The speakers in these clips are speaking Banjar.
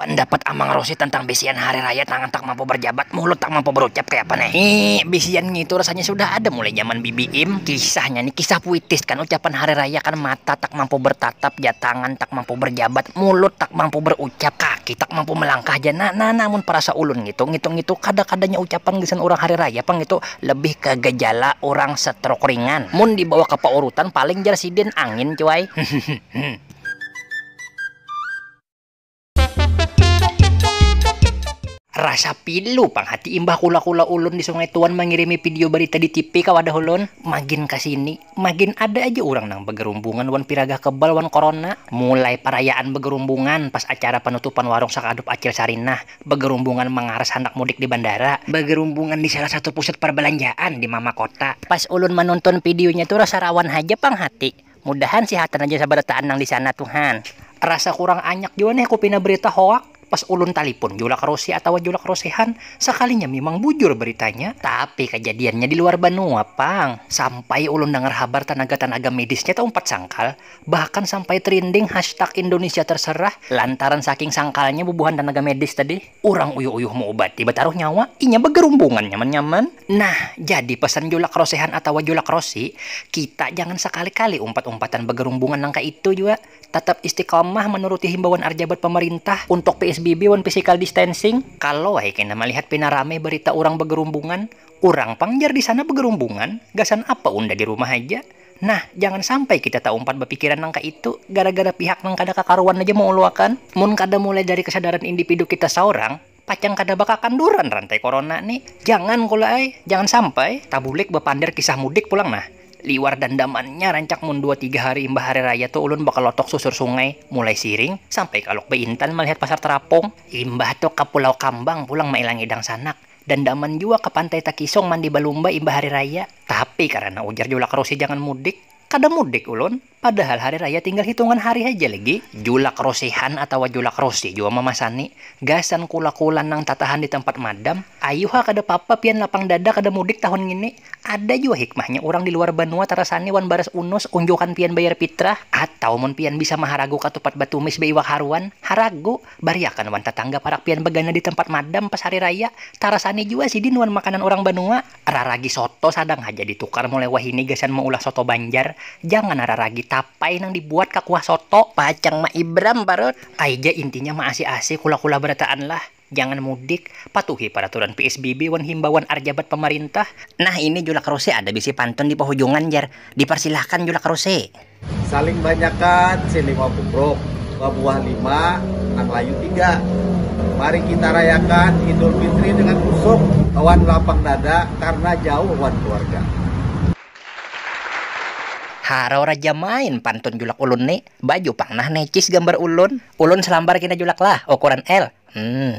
Pandapat Amang Rosi tentang bisian hari raya tangan tak mampu berjabat mulut tak mampu berucap kaya apa ne hii bisian ngitu rasanya sudah ada mulai zaman bibi im kisahnya ni kisah puitis kan ucapan hari raya kan mata tak mampu bertatap ja tangan tak mampu berjabat mulut tak mampu berucap kaki tak mampu melangkah ja na na na mun perasa ulun ngitu ngitu ngitu kada kadanya ucapan gasan urang hari raya pang ngitu lebih ke gejala urang setruk ringan mun dibawa ke paurutan paling jar sidin angin cuai. Rasa pilu pang hati imbah kula-kula ulun di Sungai Tuan mangirimi pidio barita di tipi ka wadah ulun. Magin ka sini, magin ada aja urang nang bagarumbungan wan piragah kebal wan korona. Mulai parayaan bagarumbungan pas acara panutupan warung Sakadup Acil Sarinah, bagarumbungan mangaras handak mudik di bandara, bagarumbungan di salah satu pusat parbalanjaan di Mama Kota. Pas ulun manuntun pidionya tu rasa rawan haja pang hati. Mudahan sihatan aja sabarataan nang disana tu han. Rasa kurang anyak jua nih ku pina berita hoak, pas ulun talipun julak rosi atawa julak rosihan, sakalinya mimang bujur beritanya, tapi kajadiannya di luar banua pang, sampai ulun dangar habar tanaga-tanaga medisnya taumpat sangkal, bahkan sampai trinding hashtag indonesia terserah, lantaran saking sangkalnya bubuhan tanaga medis tadi. Urang uyuh-uyuh maubati bataruh nyawa, inya bagarumbungan nyaman-nyaman. Nah, jadi pesan julak rosehan atawa julak rosi, kita jangan sakali-kali umpat-umpatan bagarumbungan nang kaitu jua. Tatap istiqomah manuruti himbauan arjabat pamarintah untuk psbb wan physical distancing. Kalu ai kena malihat pina rame barita urang bagarumbungan, urang pang jar di sana bagarumbungan, gasan apa unda di rumah haja. Nah, jangan sampai kita taumpat bapikiran nang kaitu, gara-gara pihak nang kada kakaruan haja mauluakan. Mun kada mulai dari kesadaran indipidu kita saurang, pacang kada bakakanduran rantai korona ni. Jangan kula ai, jangan sampai. Tabulik bapander kisah mudik pulang nah. Liwar dandamannya rancak mun dua tiga hari imbah hari raya tu ulun bakalotok susur sungai, mulai siring, sampai ka Lok Baintan malihat pasar terapung. Imbah tu ka Pulau Kambang pulang mailangi dangsanak. Dandaman jua ka Pantai Takisong mandi balumba imbah hari raya. Tapi karana ujar Julak Rosi jangan mudik, kada mudik ulun, padahal hari raya tinggal hitungan hari haja lagi. Julak Rosihan atawa Julak Rosi jua mamasani, gasan kula-kula nang tatahan di tampat madam, ayu ha kada papa pian lapang dada kada mudik tahun ngini. Ada jua hikmahnya urang di luar banua tarasani wan baras unus unjukan pian bayar pitrah. Atau mun pian bisa maharagu katupat batumis baiwak haruan, haragu. Bariakan wan tatangga parak pian bagana di tempat madam pas hari raya, tarasani jua sidin wan makanan urang banua, raragi soto sadang haja ditukar mulai wahini gasan maulah soto banjar, jangan raragi tapai nang dibuat ka kuah soto. Pacang maibram parut. Ai ja intinya maasi-asi kula-kula barataan lah, jangan mudik, patuhi paraturan psbb wan himbauan arjabat pamarintah. Nah ini julak ruse ada bisi pantun di pahujungan jar, diparsilahkan julak ruse. saling banyakan si lima bubruk babuah lima nang layu tiga mari kita rayakan idul fitri dengan kusuk wan lapang dada karna jauh wan keluarga. Harau raja main pantun julak ulun ni, baju pang nah necis gambar ulun, ulun selambar kina julak lah ukuran L. Humm.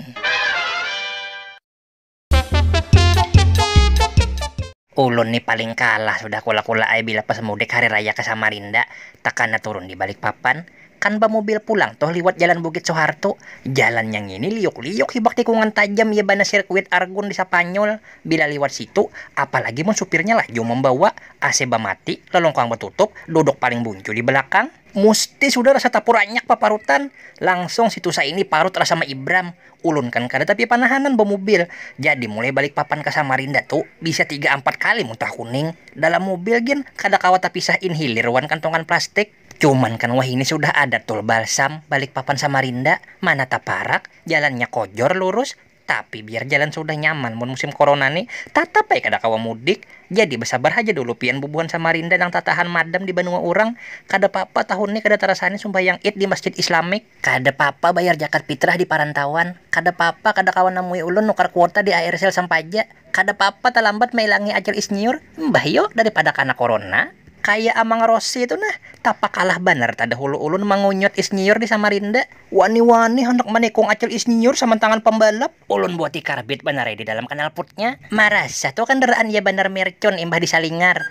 Ulun ni paling kalah sudah kula-kula ai bila pas mudik hari raya ka Samarinda, takana turun di Balikpapan, kan bamubil pulang tuh liwat jalan Bukit Soeharto, jalannya ngini liuk-liuk hibak tikungan tajam ya banar sirkuit Argun di Sapanyol bila liwat situ, apalagi mun supirnya laju mambawa, AC bamati, lelungkang batutup, duduk paling buncu di balakang. Musti sudah rasa tapur anyak paparutan, langsung situ saini parut rasa maibram. Ulun kan kada tapi panahanan bamubil, jadi mulai Balikpapan ka Samarinda tu bisa tiga ampat kali muntah kuning. Dalam mubil gin kada kawa tapisah inhilir wan kantongan plastik. Cuman kan wahini sudah ada tol balsam Balikpapan Samarinda, mana taparak, jalannya kojor lurus, tapi biar jalan sudah nyaman mun musim corona ni, tatap ai kada kawa mudik. Jadi basabar haja dulu pian bubuhan Samarinda nang tatahan madam di banua urang. Kada papa tahun ni kada tarasani sumbahyang Id di masjid Islamik. Kada papa bayar jakat pitrah di parantauan, kada papa kada kawa namui ulun nukar kuota di Aircell sampaja, kada papa talambat mailangi Acil Isnyiur, imbah yo daripada kana korona. Kaya Amang Rossi tu nah, tapakalah banar tadahulu ulun mangunyut Isnyiur di Samarinda. Wani-wani handak manikung Acil Isnyiur samantangan pambalap. Ulun buat dikarbit banar ai di dalam kanalputnya. Marasa tu kandaraan iya banar mercon imbah disalingar.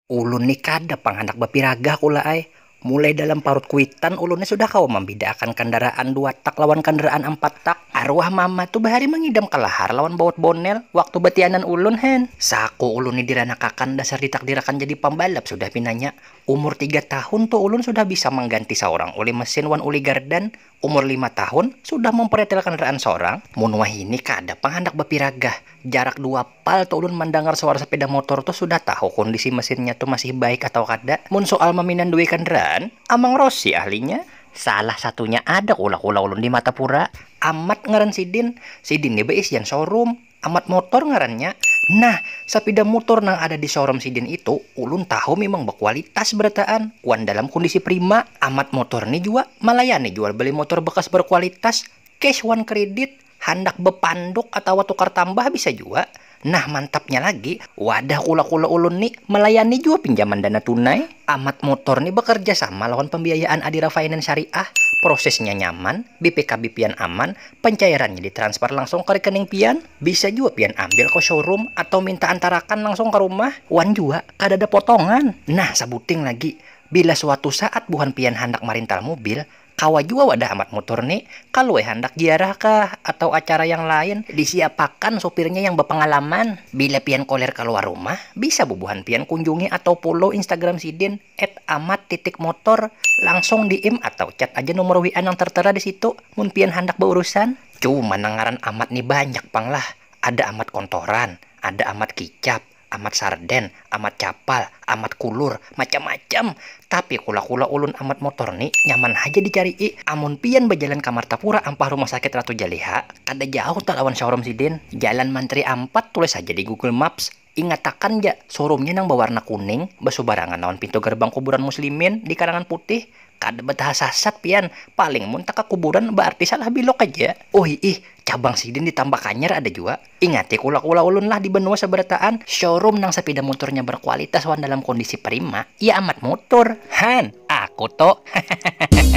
Ulun ni kada pang handak bapiragah kula ai, mulai dalam parut kuitan ulun ni sudah kawa mambidaakan kandaraan dua tak lawan kandaraan ampat tak. Aruah mama tu bahari mangidam kalahar lawan baut bonel waktu batianan ulun hen. Saku ulun ni diranakakan dasar ditakdirakan jadi pambalap sudah pinanya. Umur tiga tahun tu ulun sudah bisa mangganti saurang uli mesin wan uli gardan, Umur lima tahun, sudah mampretel kandaraan sorang, mun wahini kada pang handak bapiragah. Jarak dua pal tu ulun mandangar suara sapeda motor tu sudah tahu kondisi mesinnya tu masih baik atawa kada. Mun soal maminandui kandaraan, Amang Rosi ahlinya. Salah satunya ada kula kula ulun di Matapura, Amat ngaran sidin. Sidin ni baisian showroom. Amat Motor ngarannya. Nah, sapida mutor nang ada di showroom sidin itu, ulun tahu mimang bakualitas barataan wan dalam kondisi prima. Amat Motor ni jua malayani jual beli motor bekas berkualitas, cash wan kredit, handak bepanduk atawa tukar tambah bisa jua. Nah, mantapnya lagi, wadah kula-kula ulun ni malayani jua pinjaman dana tunai. Amat Motor ni bakarja sama lawan pambiayaan Adira Finance Syariah, prosesnya nyaman, BPKB pian aman, pancairannya ditransfer langsung ka rekening pian, bisa jua pian ambil ka showroom atau minta antarakan langsung ka rumah, wan jua kadada potongan. Nah, sabuting lagi, bila suatu saat buhan pian handak marintal mubil, Kawa jua wadah Amat Mutur ni, kaluwe handak ziarah kah atau acara yang lain, disiapakan supirnya yang bapangalaman. Bila pian koler kaluar rumah, bisa bubuhan pian kunjungi atau follow Instagram sidin @amat_motor, langsung DM atau chat aja nomor WA nang tertera di situ mun pian handak baurusan. Cuman nang ngaran Amat ni banyak pang lah, ada Amat Kontoran, ada Amat Kicap, Amat sarden, amat capal, amat kulur, macam-macam. Tapi kula-kula ulun amat motor ni nyaman haja dicari'i. Amun pian bajalan ka Martapura ampah Rumah Sakit Ratu Jaleha, kada jauh ta lawan showroom sidin. Jalan Manteri Ampat tulis haja di Google Maps. Ingatakan ja, showroomnya nang bawarna kuning, basubarangan lawan pintu gerbang kuburan muslimin di Karangan Putih. Kada bataha sasat pian, paling mun takakuburan baarti salah bilok haja. Uhiih, cabang sidin di Tambak Hanyar ada jua. Ingati kula-kula ulun lah di benua sabarataan, showroom nang sapida muturnya berkualitas wan dalam kondisi prima, ya amat mutur. Han! Aku to. Hahahaha.